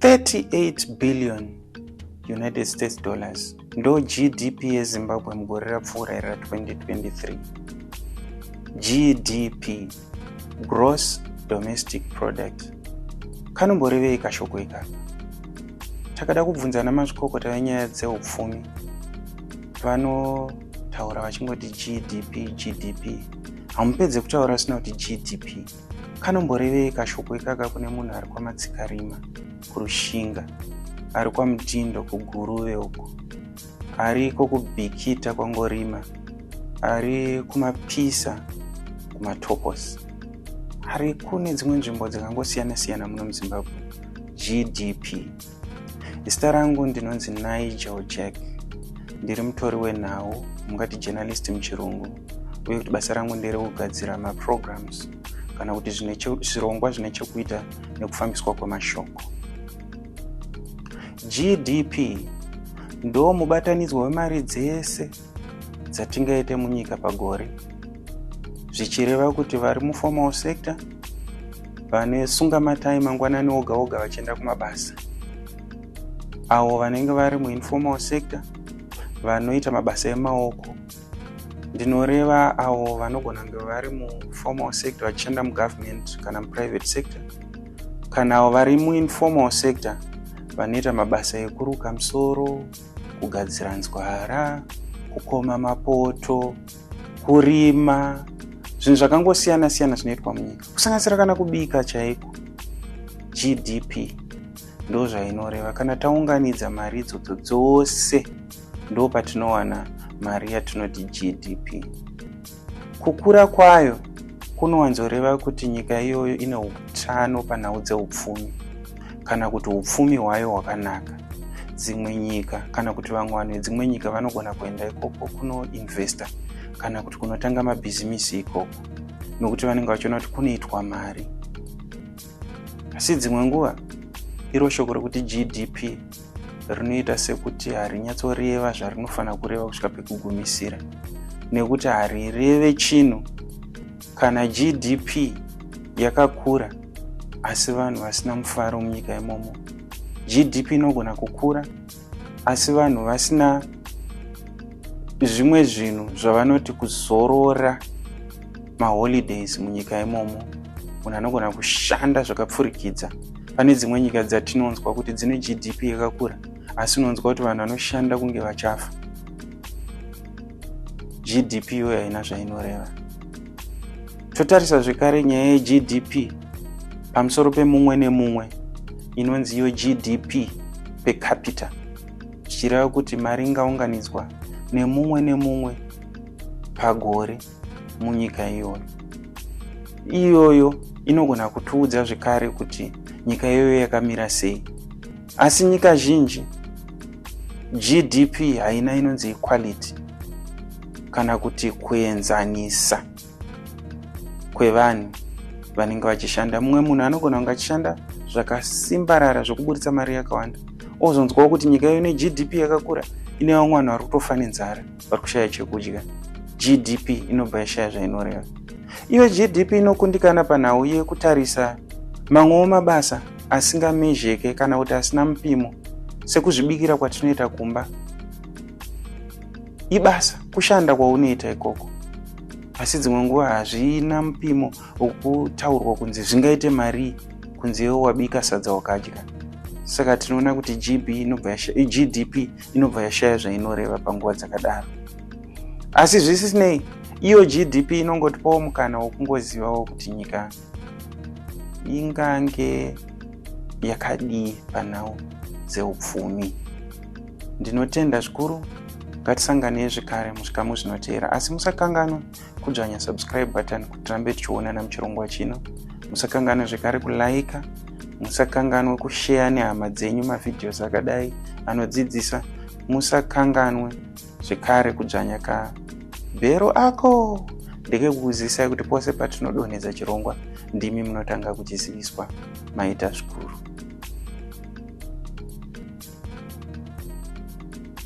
38 billion united states dollars ndo gdp yezimbabwe mugore rapfuura iri ra 2023 gdp gross domestic product kanomborevei kashoko ikaka takada kubvunza ana mazvikokota venyaya dzeupfumi vanotaura vachingoti gdp gdp hamupedze kutaura asina kuti gdp kanomborevei kashoko ikaka kune munhu ari kwamatsikarima kurushinga ari kwamutindo kuguruve uko ariko kubhikita kwangorima ari kumapisa kumatoposi ari kune dzimwe nzvimbo dzakangosiyana-siyana muno muzimbabwe gdp zita rangu ndinonzi nigel jack ndiri mutori wenhau mungati journalist muchirungu uye kuti basa rangu ndere kugadzira maprograms kana kuti zvirongwa zvine chekuita nekufambiswa kwemashoko gdp ndo mubatanidzwa wemari dzese dzatingaite munyika pagore zvichireva kuti vari muformal sector vane sunga matai mangwanani oga oga vachienda kumabasa avo vanenge vari muinformal sector vanoita mabasa emaoko ndinoreva avo vanogona kunge vari muformal sector vachienda mugovernment kana muprivate sector kana avo vari muinformal sector vanoita mabasa ekuruka musoro kugadzira nzwara kukoma mapoto kurima zvinhu zvakangosiyana siyana zvinoitwa munyika kusanganisira kana kubika chaiko gdp ndo zvainoreva kana taunganidza mari idzodzo dzose ndo patinowana mari yatinoti gdp Kukura kwayo kunowanzoreva kuti nyika iyoyo ine utano panhau dzeupfumi kana kuti upfumi hwayo hwakanaka. Dzimwe nyika kana kuti vamwe vanhu vedzimwe nyika vanogona kuenda ikoko kunoinvesta kana kuti kunotanga mabhizimisi ikoko nokuti vanenge vachiona kuti kunoitwa mari. Asi dzimwe nguva iro shoko rokuti GDP rinoita sekuti harinyatsoreva zvarinofanira kureva kusvika pekugumisira nekuti harireve chinhu kana gdp yakakura asi vanhu vasina mufaro munyika imomo gdp inogona kukura asi vanhu vasina zvimwe zvinhu zvavanoti kuzorora maholidays munyika imomo munhu anogona kushanda zvakapfurikidza pane dzimwe nyika dzatinonzwa kuti dzine gdp yakakura asi unonzwa kuti vanhu vanoshanda kunge vachafa gdp iyoyo haina zvainoreva totarisa zvekare nyaya yegdp pamusoro pemumwe nemumwe inonzi iyo gdp pecapita zvichireva kuti mari ingaunganidzwa nemumwe nemumwe pagore munyika iyoyo iyoyo inogona kutiudza zvekare kuti nyika iyoyo yakamira sei asi nyika zhinji gdp haina inonzi equality kana kuti kuenzanisa kwevanhu vanenge vachishanda mumwe munhu anogona kunge achishanda zvakasimbarara zvekuburitsa mari yakawanda ozonzwawo kuti nyika iyo ine gdp yakakura ine vamwe vanhu vari kutofa nenzara vari kushaya chekudya gdp inobva yashaya zvainoreva iyo gdp inokundikana panhau yekutarisa mamwewo mabasa asingamezheke kana kuti asina mupimo sekuzvibikira kwatinoita kumba ibasa kushanda kwaunoita ikoko asi dzimwe nguva hazvina mupimo wokutaurwa kunzi zvingaite marii kunzi iwo wabika sadza wakadya saka tinoona kuti gdp inobva yashaya zvainoreva panguva dzakadaro asi zvisisinei iyo gdp inongotipawo mukana wokungozivawo kuti nyika ingange yakadii panhau dzeupfumi ndinotenda zvikuru ngatisanganei zvekare muzvikamu zvinoteera asi musakanganwa kudzvanya subscribe button kuti tirambe tichionana muchirongwa chino musakanganwe zvekare kulaika musakanganwe kusheya nehama dzenyu mavhidhios akadai anodzidzisa musakanganwe zvekare kudzvanya ka bhero ako ndekekukuzivisai kuti pose patinodonhedza chirongwa ndimi munotanga kuchiziviswa maita zvikuru